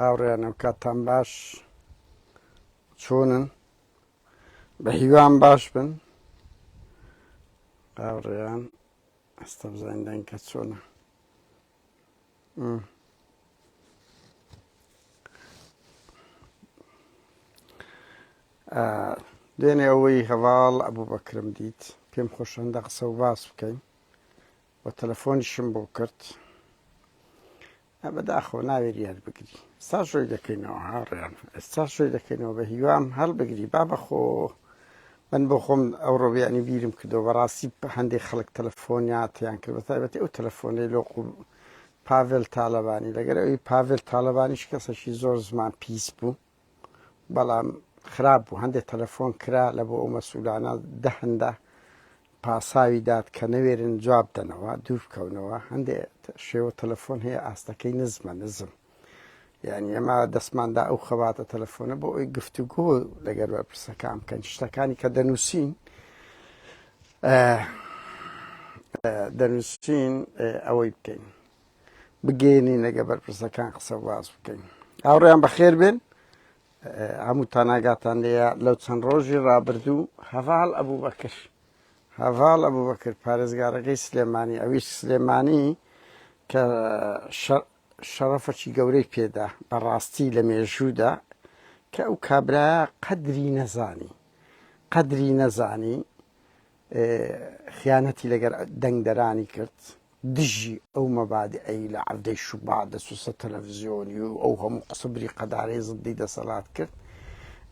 هاوڕێیانم کاتان باش چۆنن بە هیوام باش بن هاوڕێیان ئەستە بزانین دەنکە چۆنە دوێنێ ئەوەی هەواڵ ئەبوو بەکرم دیت پێم خۆشەندە قسە و باس بکەین وە تەلەفۆنیشم بۆ کرد ئە بەداخەوە ناوێری هەر بگری ئستا شۆی دەکەینەوە هاڕیان ئستا شۆی دەکەینەوە بە هیوام هەڵ بگری با بەخۆ من بۆ خۆم ئەو ڕۆبیانی بیرم کردەوە بەڕاستی هەندێک خەڵک تەلەفۆنیاتیان کرد بە تایبەتی ئەو تەلەفۆنەی لۆ پاڤل تاالبانی لەگەر ئەوی پاڤل تاالبانیش کەسەشی زۆر زمان پیس بوو بەڵام خراپ بوو هەندێک تەلەفۆن کرا لە بۆ ئەو مەسوولانە دە هەندە پاساوی داد کە نەوێرن جواب دەنەوە دوور بکەونەوە هەندێک شێوە تەلەفۆن هەیە ئاستەکەی نزمە نزم یعنی ئەمە دەستماندا ئەو خەباتە تەلەفۆنە بۆ ئەوی گفتوگۆ لەگەر بەرپرسەکان بکەن شتەکانی کە دەنووسین دەنووسین ئەوەی بکەین بگەێنین لەگە بەرپرسەکان قسە باز بکەین هاوڕیان بەخێر بێن هەموو تاناگاتان لەیە لەو چەند ڕۆژی ڕابردوو هەڤال ئەبوو بەکر هەڤال ئەبوو بەکرد پارێزگارەکەی سلێمانی ئەویش سلێمانی کە شەڕەفەکی گەورەی پێدا بەڕاستی لە مێژوودا کە ئەو کابراە قەدری نەزانی قەدری نەزانی خیانەتی لەگەر دەنگدەرانی کرد دژی ئەو مەبادئەی لە عەڤدەی شوبات دەچوو سەر تەلەفزیۆنی و ئەو هەموو قسە بریقەدارەی زدی دەسەلات کرد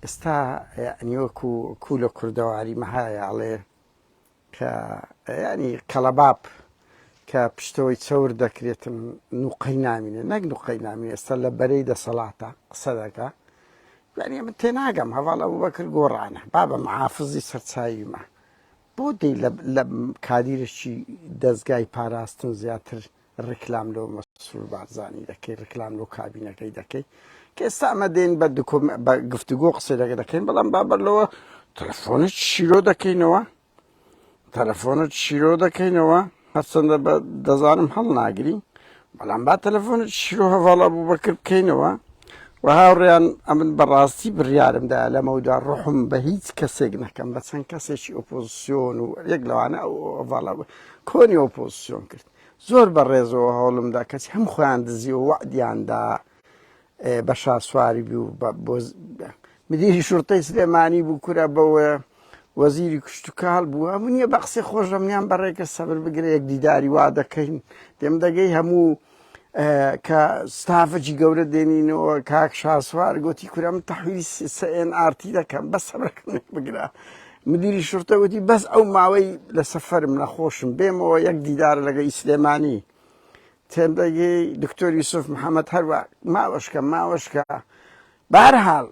ئێستا یعنی وەکو کو لە کوردەواری مەهایاڵێ کە ینی کەڵەباب کە پشتەوەی چەور دەکرێتن نوقەی نامینێ نەک نوقەی نامین ئێستا لە بەرەی دەسەڵاتە قسە دەکە یانی من تێناگەم هەڤاڵ ئەبوبەکر گۆڕانە بابە محافزی سەرچاویمە بۆ دی لە کادیرێکی دەستگای پاراستن زیاتر ڕیکلام لەو مەسرور بارزانانی دەکەی ڕیکلام لەو کابینەکەی دەکەی کە ئێستا ئەمە دێن بە بە گفتوگۆ قسەی دەگە دەکەین بەڵام بابەر لەوە تەلفۆنە شیرۆ دەکەینەوە تەلەفۆنت شیرۆ دەکەینەوە هەرچەندە بە دەزانم هەڵ ناگری بەڵام با تەلەفۆنت شیرۆ هەواڵە بوو بەکرد بکەینەوە و هاوڕێیان ئەمن بەڕاستی بڕیارمدا لەمەودا ڕحم بە هیچ کەسێک نەکەم بە چەند کەسێکی ئۆپۆزیسیۆن و یەک لەوانە ئەوواڵە کۆنی ئۆپۆزیسیۆن کرد زۆر بە ڕێزەوە هەوڵمدا کەچ هەم خۆیان دزیەوە وەعدیاندا بە شاسواری بوو مدیری شورتەی سلێمانی بوو کورە بەوە وەزیری کوشتتوکال بووە من نیە بە قسەی خۆشەمیان بەڕێکە سەبر بگرە یەک دیداری وا دەکەین دێم دەگەی هەموو کە ستافەجی گەورە دێنینەوە کاک شاسوار گوتی کورم تەحویلی سەێن ئارتی دەکەم بە سەبرەکەم بگرە مدیری شورتە وتی بەس ئەو ماوەی لە سەفرم نەخۆشم بێمەوە یەک دیدار لەگە ئیسلێمانی تێلدەگەی دکتۆر یوسف محمد هەروا ماوەشکە ماوەشکە بارحاڵ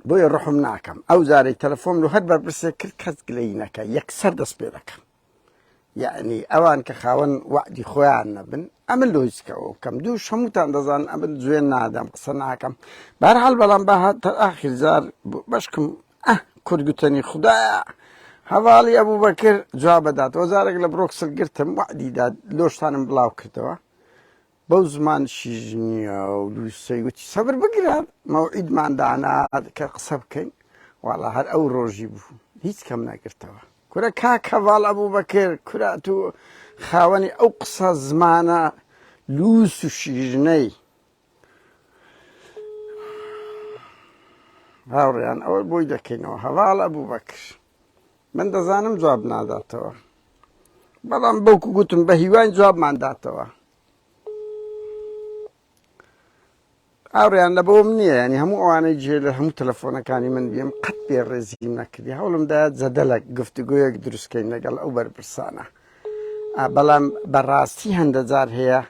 بۆیە ڕحم ناکەم ئەو زارەی تەلەفۆن و هەر بەرپرسێ کرد کەس گلەینەکە یەکسەر دەست پێ دەکەم یعنی ئەوان کە خاوەن وعدی خۆیان نەبن ئەمە لۆیسکەوە بکەم دوو شەموتان دەزان ئەمن جوێن نادەم قسە ناکەم بارحاڵ بەڵام بە هاتە ئاخیرزار بەشکم ئە کورد گوتەنی خودایە هەڤاڵی ئەبوبەکر جواب بدات وەزارێک لە برۆکسل گرتم وەعدی دا لۆشتانم بڵاو کردەوە بەو زمان شیژ نییە و لوسەی وتی سەبر بگرە مەوعیدمان دانا کە قسە بکەین واڵا هەر ئەو ڕۆژی بوو هیچ کەم نەگرتەوە کورە کاک هەڤاڵ ئەبوبەکر کورات و خاوەنی ئەو قسە زمانە لوس و شیژنەی هاوڕیان ئەوەی بۆی دەکەینەوە هەواڵ ئەبوو بەکر من دەزانم جواب ناداتەوە بەڵام بەوکو گوتم بە هیوان جوابمان داتەوە ئاڕیان لە بۆم نییە ینی هەموو ئەوانەی جێ لە هەموو تەلەفۆنەکانی من بیم قەت پێ ڕێزیم نەکردی هەوڵمدا جەدەلک گفتوگویەک دروستکەین لەگەڵ ئەو بەرپرسانە بەڵام بەڕاستی هەندە جار هەیە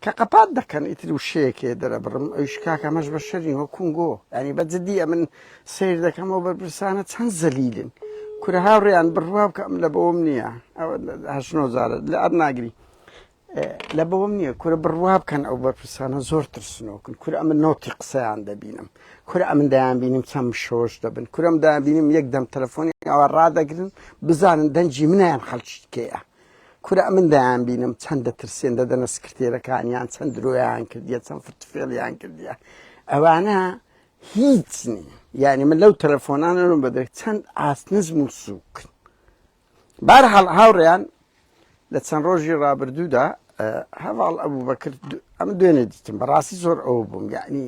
کە قەپات دەکەن ئیتر وشەیەکێ دەرەبڕم ئەویش کاکە مەش بە شەرنی هۆ کونگۆ ینی بە جددی ئەمن سیر دەکەمەوە بەرپرسانە چەند زەلیلن کورە هاوڕێیان بڕوا بکە ئەم لە بەوەم نییە هەشنۆزارە لە ئەر ناگری لە بەوەم نییە کورە بڕوا بکەن ئەو بەرپرسانە زۆر ترسنۆکن کور ئەمە نۆتی قسەیان دەبینم کورە ئەمن دایان بینیم چەند شۆش دەبن کورم دایان بینیم یەک دەم تەلەفۆنی ئەوە ڕدەگرن بزانن دەنجی منیان خەلچیتکەیە کورە ئەمن دەیانبینم چەند دەترسێن دەدەنە سکرتێرەکانیان چەند درۆیان کردیە چەند فرتفێڵیان کردیە ئەوانە هیچ نیە یعنی من لەو تەلەفۆنانەم بەدەێت چەند ئاسنزم و سووک بار هەڵ هاوڕێیان لە چەند ڕۆژی ڕابردوودا هەواڵ ئەبوو بەکرد ئەم دوێنێ دیتم بەڕاستی زۆر ئەو بووم یعنی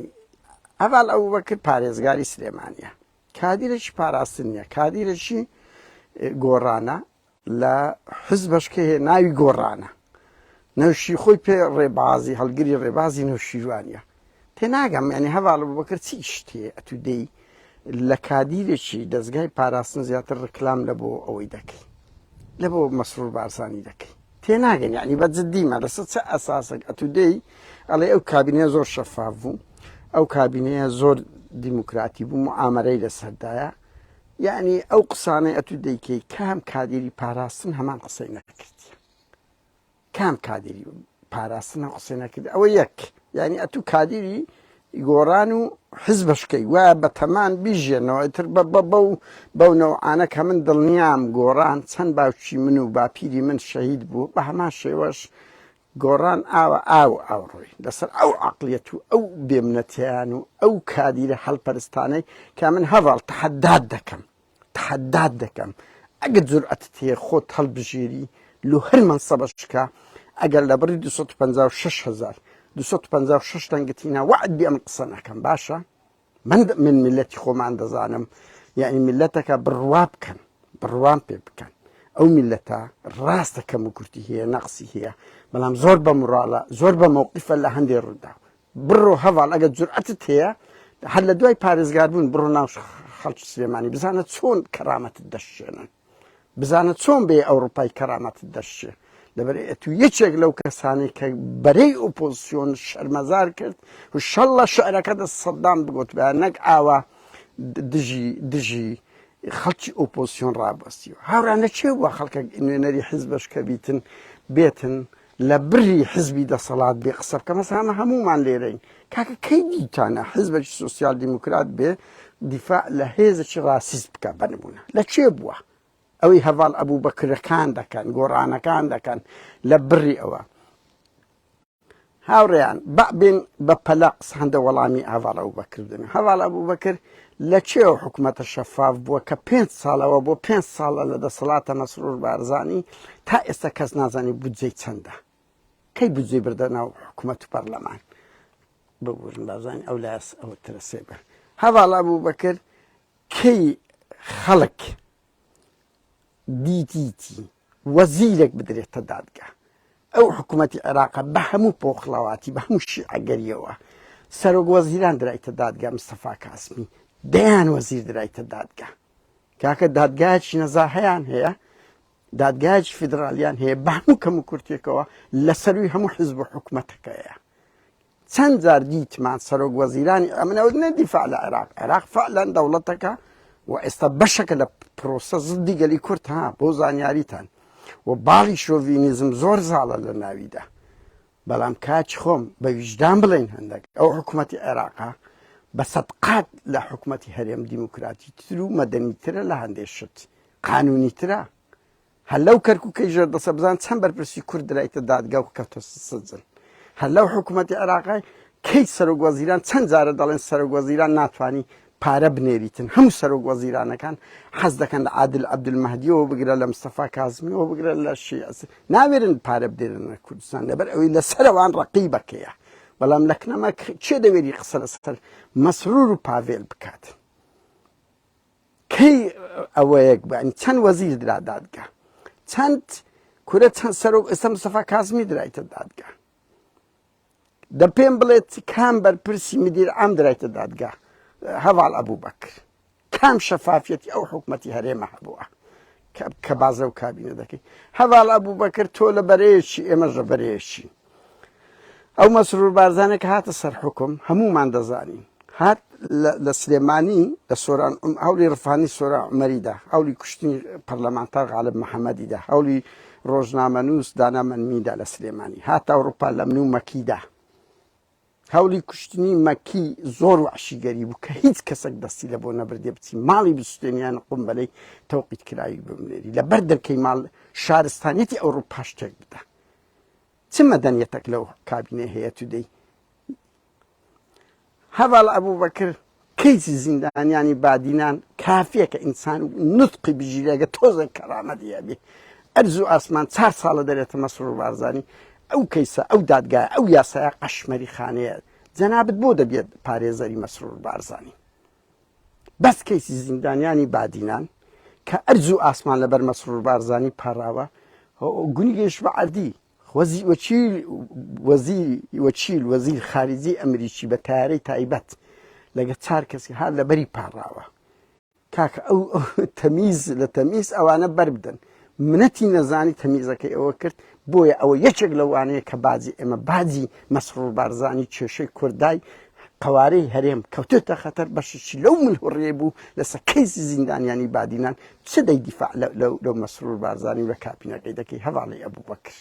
هەواڵ ئەبوو بەکرد پارێزگاری سلێمانە کادیرێکی پاراستن نیە کادیرێکی گۆڕانە لە حزبەش کە هەیە ناوی گۆڕانە. نەوشی خۆی پێ ڕێبازی هەڵگری ڕێبازی نەوشیروانیە. تێناگەم یانی هەڤاڵ ئەبوبەکر چ ئیشت هەیە ئەتوو دێی لە کادیرێکی دەزگای پاراستن زیاتر ڕکلام لە بۆ ئەوەی دەکەی لە بۆ مەسرور بارزانی دەکەی تێناگەن یعنی بە جددیمە لەسە چ ئەساسێک ئەتوو دێی ئەڵێ ئەو کابینەیە زۆر شەفاف بوو ئەو کابینەیە زۆر دیموکراتی بوو معامەرەی لەسەردایە یعنی ئەو قسانەی ئەتو دەیکەی کام کادیری پاراستن هەمان قسەی نەکردی کام کادیری پاراستن هەم قسەی نەکرد ئەوە یەک یعنی ئەتو کادیری گۆڕان و حز بەشکەی وا بە تەمان بیژێنەوە تر بە بە بە و بەو نەوعانە کە من دڵنیام گۆڕان چەند باوکی من و باپیری من شەهید بوو بە هەمان شێوەش گۆڕان ئاوە ئاو ئاوڕۆی لەسەر ئەو عقلیەت و ئەو بێمنەتیان و ئەو کادیرە هەلپەرستانەی کە من هەڤاڵ تەحەدات دەکەم تەحەدات دەکەم ئەگەر جورئەتت هەیە خۆت هەڵبژێری لۆ هەر مەنسەبەش بکە ئەگەر لە بڕی 256000 256 دەنگتینا وعد بێ ئەم قسە نەکەم باشە من من میلەتی خۆمان دەزانم یعنی میلەتەکە بڕوا بکەن بڕوان پێ بکەن ئەو میلەتە ڕاستە کەم و کورتی هەیە نەقسی هەیە بەڵام زۆر بە مراڵە زۆر بە مەوقیفە لە هەندێک ڕوودا بڕۆ هەواڵ ئەگە جورئەتت هەیە هەر لە دوای پارێزگاربوون بڕۆ ناو خەڵکی سلێمانی بزانە چۆن کەرامەتت دەشێنن بزانە چۆن بێ ئەوروپای کەرامەتت دەشچێ لەبەر ئەتو یەکێک لەو کەسانەی کە بەرەی ئۆپۆزیسیۆن شەرمەزار کرد و شەڵە شعرەکە دە سەددان بگوت بە نەک ئاوا دژی دژی خەڵکی ئۆپۆزیسیۆن ڕابستی و هاورانە چێ بووە خەڵکە نوێنەری حیز بەشکە بیتن بێتن لە بری حزبی دەسەڵات بێ قسە بکەم هەستا ئەمە هەموومان لێرەین کاکە کەی دیتانە حزبێکی سوسیال دیموکرات بێ دیفاع لە هێزێکی ڕاسیست بکە بەنمونە لە چێ بووە ئەوەی هەواڵ ئەبوو بەکرەکان دەکەن گۆڕانەکان دەکەن لە بڕی ئەوە هاوڕێیان بەبێن بە پەلە قسە هەندە وەڵامی هەواڵە و بەکردن هەواڵە بوو بەکرد لە کوێوە حکومەتە شەفاف بووە کە پێنج ساڵەوە بۆ پێنج ساڵە لە دەسەڵاتە مەسرور بارزانی تا ئێستا کەس نازانی بودجەی چەندە کەی بودجەی بردە ناو حکومەت و پەرلەمان ببورن بازانی ئەو لاس ئەوە ترسێ بە هەواڵا بوو بەکر کەی خەڵک دیتیتی وەزیرێک بدرێتە دادگا. ئەو حکومەتی عێراقە بە هەموو پۆخڵەواتی بە هەموو شیعەگەریەوە سەرۆک وەزیران درایتە دادگا مستەفا کاسمی دەیان وەزیر درایتە دادگا کاکە دادگایکی نەزا هەیان هەیە دادگایکی فیدراالیان هەیە بە هەموو کەم و کورتێکەوە لە سەروی هەموو حزب و حکومەتەکەیە چەند جار دیتمان سەرۆک وەزیرانی ئەمن ئەوت نە دیفاع لە عێراق عێراق فعلەن دەوڵەتەکە و ئێستا بەشەکە لە پرۆسە زدی گەلی کورد ها بۆ زانیاریتان و باڵی شۆڤینیزم زۆر زاڵە لە ناویدا بەڵام کاچ خۆم بە ویژدان بڵێن هەندێک ئەو حکوومەتی عێراقا بە سەدقات لە حکوومەتی هەرێم دیموکراتی تر و مەدەنی ترە لە هەندێک شت قانونی ترە هەر لەو کەرکوکەی ژێر دەسە بزان چەند بەرپرسی کورد درایتە دادگا و کەوتە سجن هەر لەو حکوومەتی عێراقای کەیت سەرۆک وەزیران چەند جارە دەڵێن سەرۆک وەزیران ناتانی پارە بنێریتن هەموو سەرۆک وەزیرانەکان حەز دەکەن لە عادل عبدمەهدیەوە بگرە لە مستەفا کازمیەوە بگرە لە شیعس ناوێرن پارە بدێنن لە کوردستان لەبەر ئەوەی لە سەرەوان ڕقی بەکەیە بەڵام لەکنەمە چێ دەوێری قسە لەسەر مەسرور و پاڤێل بکات کەی ئەوەیەک بەن چەند وەزیر درا دادگا چەند کورە چەند سەرۆک ئێستا مستەفا کازمی درایتە دادگا دە پێم بڵێت کام بەرپرسی مدیر ئەم درایتە دادگا هەواڵ ئەبوو بەکر کام شەفافەتی ئەو حکوومەتتی هەرێمە هەبووە کە بازە و کابینە دەکەیت هەواڵ ئەبوو بەکرد تۆ لە بەرەیەکی ئێمەش لە بەرەیەکی ئەو مەسرور بارزانە کە هاتە سەر حوکم هەموومان دەزانین هات لە سلێمانی لە سۆران هەولی ڕفانی سۆرا عمەریدا هەولی کوشتنی پەرلەمانتار غالب محەممەدیدا هەولی ڕۆژنامەنووس دانامەنمیدا لە سلێمانی هات ئەوروپا لە من و مەکیدا هەولی کوشتنی مەکی زۆر وەحشیگەری بوو کە هیچ کەسەک دەستی لە بۆ نەبردێ بچی ماڵی بسوتێنیان قومبەلەی تەوقیت کراوی بمنێری لە بەر دەرکەی ماڵ شارستانیەتی ئەوڕوو پاش تێک بدا چ مەدەنیەتەک لەو کابینێ هەیە تو دەی هەواڵ ئەبوو بەکر کەیسی زیندانیانی بادینان کافیە کە ئینسان نوتقی بژیرێ ئەگەر تۆزێک کەرامەتی هەبی ئەرز و ئاسمان چار ساڵە دەرێتە مەسرور بارزانی ئەو کەیسە ئەو دادگایە ئەو یاسایە قەشمەری خانەیە جەنابت بۆ دەبێت پارێزەری مەسرور بارزانی بەس کەیسی زیندانیانی بادینان کە ئەرز و ئاسمان لەبەر مەسرور بارزانی پاراوە گونی گەیشت بە عەردی وەچیل وەزیر خارجی ئەمریکی بە تەیارەی تایبەت لەگە چار کەسی هات لە بەری پاڕاوە کاکە ئەو تەمیز لە تەمیز ئەوانە بەربدەن منەتی نەزانی تەمیزەکەی ئەوە کرد بۆیە ئەوە یەکێک لەوانەیە کە باجی ئێمە باجی مەسرور بارزانانی کێشەی کوردای قەوارەی هەرێم کەوتۆتە خەتەر بەشێکی لەو ملهوڕیەی بوو لەسەر کەیسی زیندانیانی بادینان چ دەی دیفاع لەو مەسرور بارزانی و لە کاپینەکەی دەکەی هەواڵی ئەبوو بەکر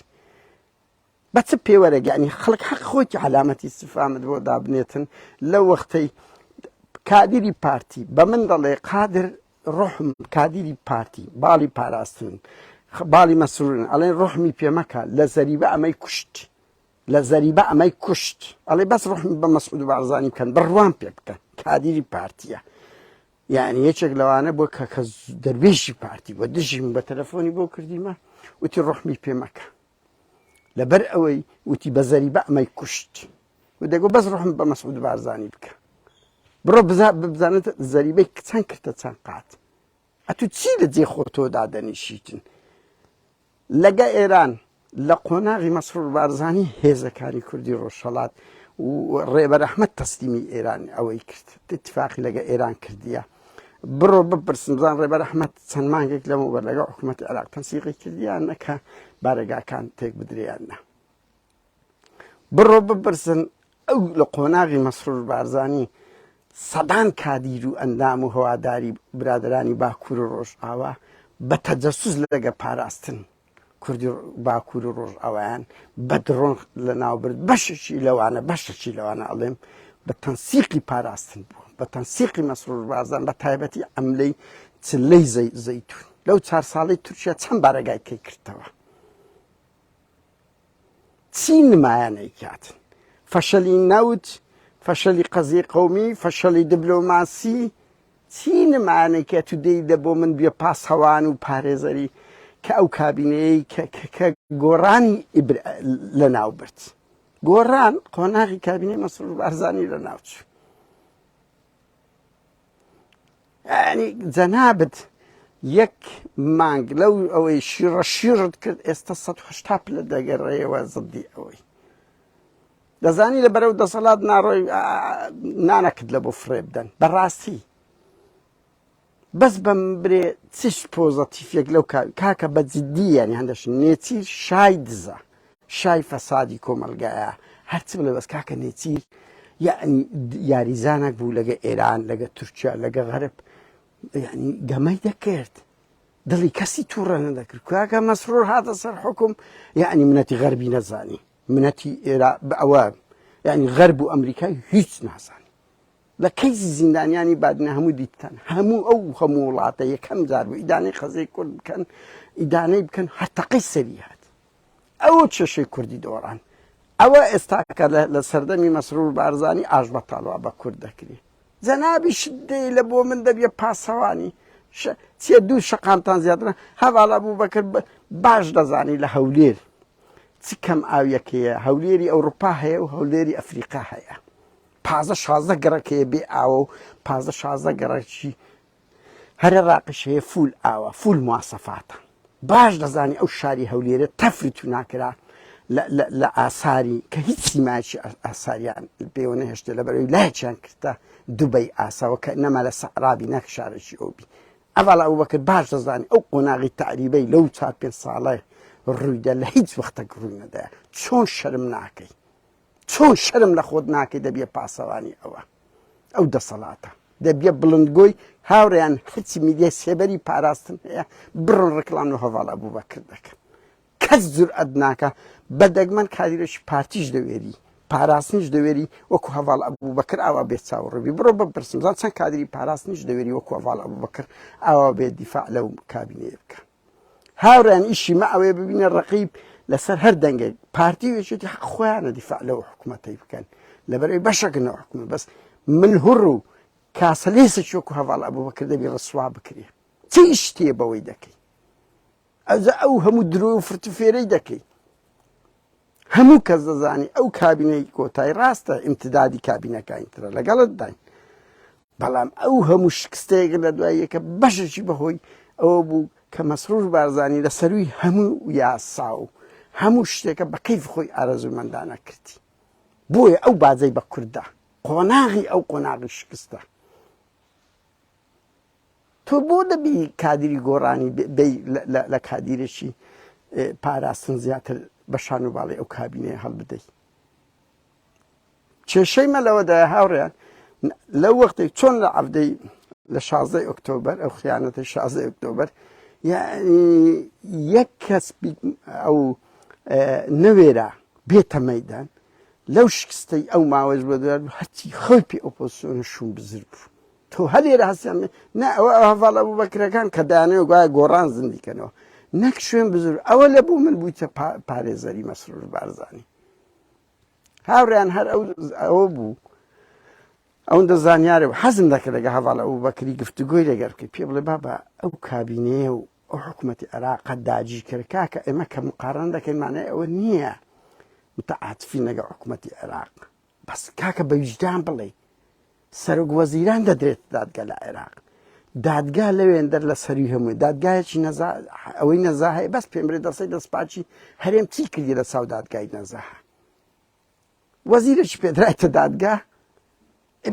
بە چ پێوەرەگەانی خەڵک حەق خۆی علامەتی سفامت بۆ دابنێتن لە وەختەی کادیری پارتی بە من دەڵێ قادر ڕحم کادیری پارتی باڵی پاراستن باڵی مەسرورن ئەڵێن ڕحمی پێمەکە لە زەریبە ئەمەی کوشت لە زەریبە ئەمەی کوشت ئەڵێ بەس ڕحم بە مەسعود بارزانی بکەن بڕوام پێ بکەن کادیری پارتیە یعنی یەکێک لەوانە بۆ کە کە دەروێشی پارتی بە دژیم بە تەلەفۆنی بۆ کردیمە وتی ڕحمی پێمەکە لەبەر ئەوەی وتی بە زەری بە ئەمەی کوشت و دەگو بەس ڕحم بە مەسعود بارزانانی بکە بڕۆ بزانێت زەریبەی کچان کردە چەند قات ئەتو چی لە جێ خۆ تۆ دادەنیشیتن لەگە ئێران لە قۆناغی مەسرور بارزانی هێزەکانی کوردی ڕۆژهەڵات و ڕێبەر ئەحمەد تەسلیمی ئێران ئەوەی کرد اتفاقی لەگە ئێران کردیە بڕۆ بپرسن بزان ڕێبەر ئەحمەد چەند مانگێک لەمەوبەر لەگە حکوومەت عراق تەنسیقی کردیان نەکە بارەگاکان تێک بدریان نە بڕۆ بپرسن ئەو لە قۆناغی مەسرور بارزانی سەدان کادیر و ئەندام و هەواداری برادرانی باکوور و ڕۆژئاوا بە تەجەسوس لەگە پاراستن کوردی باکوور و ڕۆژئاوایان بە دڕۆن لە ناوبرد بەشێکی لەوانە بەشێکی لەوانە ئەڵێم بە تەنسیقی پاراستن بوو بە تەنسیقی مەسرور بازان بە تایبەتی ئەملەی چلەی زەی زەیتون لەو چار ساڵی تورکیا چەند بارەگای کەی کردەوە چی نمایان ئەیکات؟ فەشەلی نەوت، فەشەلی قەزیەی قەومی، فەشەلی دبلۆماسی، چی نمایان ئەیکات و دەیدە بۆ من بێ پاسەوان و پارێزەری کە ئەو کابینەیەی کە گۆڕانی لەناو برد؟ گۆڕان قۆناغی کابینەی مەسرور بارزانی لەناو چوو. یعنی جەنابت یەک مانگ لەو ئەوەی شیڕە شیڕت کرد ئێستا 1970 پلە دەگەڕێەوە زدی ئەوەی دەزانی لە بەرەو دەسەڵات ناڕۆی نانەکت لە بۆ فرێ بدەن بەڕاستی بەس بەم برێ چیش پۆزەتیفێک لەو کاکە بە جددییان هەندەش نێچی شای دزە شای فەسادی کۆمەڵگایە هەرچ بڵێ بەس کاکە نێچیر یەعنی یاریزانەک بوو لەگە ئێران لەگە تورکیا لەگە غەرب یعنی گەمەی دەکرد دڵی کەسی تووڕە نەدەکرد کاکە مەسرور هاتە سەر حکم یعنی منەتی غەربی نەزانی منەتی ئێرا ئەوە یعنی غەرب و ئەمریکای هیچ نازانی لە کەیسی زیندانیانی بادنە هەموو دیتان هەموو ئەو هەموو وڵاتە یەکەم جار بوو ئیدانەی خەزەی کورد بکەن ئیدانەی بکەن هەرتەقەی سەری هات ئەو کێشەی کوردی دۆڕان ئەوە ئێستا کە لە سەردەمی مەسرور بارزانی ئاش بە تاڵوا بە کورد دەکری جەنابی شدەی لە بۆ من دەبیە پاسەوانی چیە دوو شقامتان زیاترە هەواڵە بوو بەکرد باش دەزانی لە هەولێر چ کەم ئاویەکەیە هەولێری ئەوروپا هەیە و هەولێری ئەفریقا هەیە پازە شازدە گەڕەکەیە بێ ئاوە و پازە شازدە گەڕەکی هەر عێڕاقیش هەیە فول ئاوە فول مواسەفاتە باش دەزانی ئەو شاری هەولێرە تەفری تو ناکرا لە ئاساری کە هیچ سیمایکی ئاساریان پێوە نەهێشتێ لە بەرەوەی لایچیان کردە دوبەی ئاساوە کە نەما لە سەعرابی نەک شارێکی ئەوبی ئەڤڵ ئەو بەکرد باش دەزانانی ئەو قۆناغی تعریبەی لەو چار پێ ساڵە ڕوویدا لە هیچ وەختە گڕوونەدا چۆن شەرم ناکەی چۆن شەرم لە خۆت ناکەی دەبیە پاسەوانی ئەوە ئەو دەسەڵاتە دەبیە بڵندگۆی هاوریان هەرچی میدیای سێبەری پاراستن هەیە بڕن ڕکلام لە هەواڵ ئەبوو بەکرد دەکەن کەس جورئەت ناکە بە دەگمەن کاریرەش پارتیش دەوێری پاراستنیش دەوێری وەکو هەواڵ ئەبوو بەکر ئاوا بێت چاوڕبی بڕۆ بە پرسمزان چەند کادری پاراستنیش دەوێری وەکو هەواڵ ئەبوو بەکر ئاوا بێت دیفاع لەو کابینەیە بکە هاورێیان ئیشی مە ئەوەیە ببینە ڕەقیب لەسەر هەر دەنگێک پارتی و یەکێتی حەق خۆیانە دیفاع لەو حکوومەتەی بکەن لەبەرەوەی بەشەکەن ئەو حکوومەت بەس من هوڕ و کاسەلێسێکی وەکو هەواڵ ئەبوو بەکر دەبی ڕسوا بکرێ چ ئیش تێ بەوەی دەکەی ئەوجا ئەو هەموو درۆ و فرت و فێرەی دەکەی هەموو کەس دەزانی ئەو کابینەی کۆتای ڕاستە ئیمتدادی کابینەکانی ترە لەگەڵت داین بەڵام ئەو هەموو شکستە یەک لە دوای یەکە بەشێکی بەهۆی ئەوە بوو کە مەسرور بارزانی لە سەرووی هەموو یاسا و هەموو شتێکە بە کەیف خۆی ئارەزوومەندانە کردی بۆیە ئەو باجەی بە کورددا قۆناغی ئەو قۆناغی شکستە تۆ بۆ دەبی کادری گۆڕانی لە کادیرێکی پاراستن زیاتر بە شان و باڵی ئەو کابینەیە هەڵبدەیت کێشەی مە لەوەدایە هاوڕێیان لەو وەختێک چۆن لە عەفدەی لە شازدەی ئۆکتۆبەر ئەو خیانەتی شازدەی ئۆکتۆبەر یەک کەس ئەو نەوێرا بێتە مەدان لەو شکستەی ئەو ماوەش بە دوار هەرچی خەوی پێ ئۆپۆسیۆنە شوم بزر بوو تۆ هەلێرە هەستیان نە ئەوە هەواڵ ئەبوو بەکرەکان کە دانێ گوایە گۆڕان زندیکەنەوە نەک شوێن بزر ئەوە لە بوو من بوویتە پارێزەری مەسرور بارزانانی هاوریان هەر ئەوە بوو ئەوەندە زانیارە و حەزم دەکە لەگە هەواڵ ئەو بەکری گفتوگۆی لەگەر بکە پێ بڵێ بابا ئەو کابینەیە و ئەو حکوومەتی عێراقە داجی کرد کاکە ئێمە کە مقارن دەکەینمانەیە ئەوە نییە متعاعاتفی لەگە حکوومەتی عێراق بەس کاکە بەویژدان بڵێ سەرۆک وەزیران دەدرێتە دادگە لە عێراق. دادگا لەوێندەر لە سەروی هەمووی دادگایەکی نەزا ئەوەی نەزا هەیە بەس پێمرێ دەسەی دەستپاچی هەرێم چی کردی لە چاو دادگای نەزاها وەزیرەکی پێدرایتە دادگا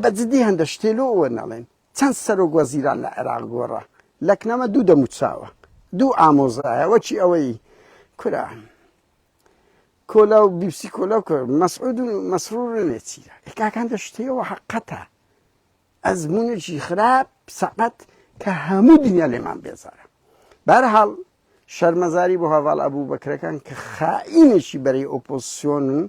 بە جدی هەندە شتێلۆ ئەوە نەڵێن چەند سەرۆک وەزیران لە عێراق گۆڕە لەکنەمە دوو دەموچاوە دوو ئامۆزایە وەکی ئەوەی کورە کۆلا و بیبسی کۆلا و کۆلا مەسعود و مەسرور نێچیرە ئێکاکان دەشتەوە حەقەتە ئەزمونێکی خراپ سەقەت کە هەموو دنیا لێمان بێزارە بارحاڵ شەرمەزاری بۆ هەواڵ ئەبوو بەکرەکان کە خائینێکی بەرەی ئۆپۆسیۆن و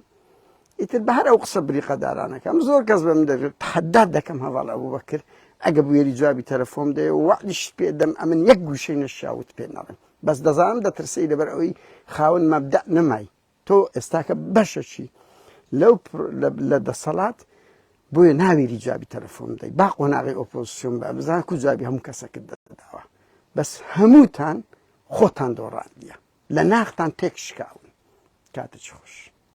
ئیتر بە هەر ئەو قسە بریقەدارانەکەم زۆر کەس بە من دەبێت تحدات دەکەم هەواڵ ئەبوو بەکرد ئەگە بوێری جوابی تەلەفۆم دەیە وەعدیشت پێدەم ئەمن یەک گوشەی نەشاوت پێ ناڵێم بەس دەزانم دەترسێی لەبەر ئەوەی خاوەن مەبدەء نەمای تۆ ئێستاکە بەشەچی لەو لە دەسەڵات بۆیە ناویری جوابی تەلەفۆن دەی با قۆناغی ئۆپۆزیسیۆن بە بزان کو جوابی هەموو کەسەکرد دەداوە بەس هەمووتان خۆتان دۆڕاندیە لە ناختان تێک شکاون کاتە چ خۆش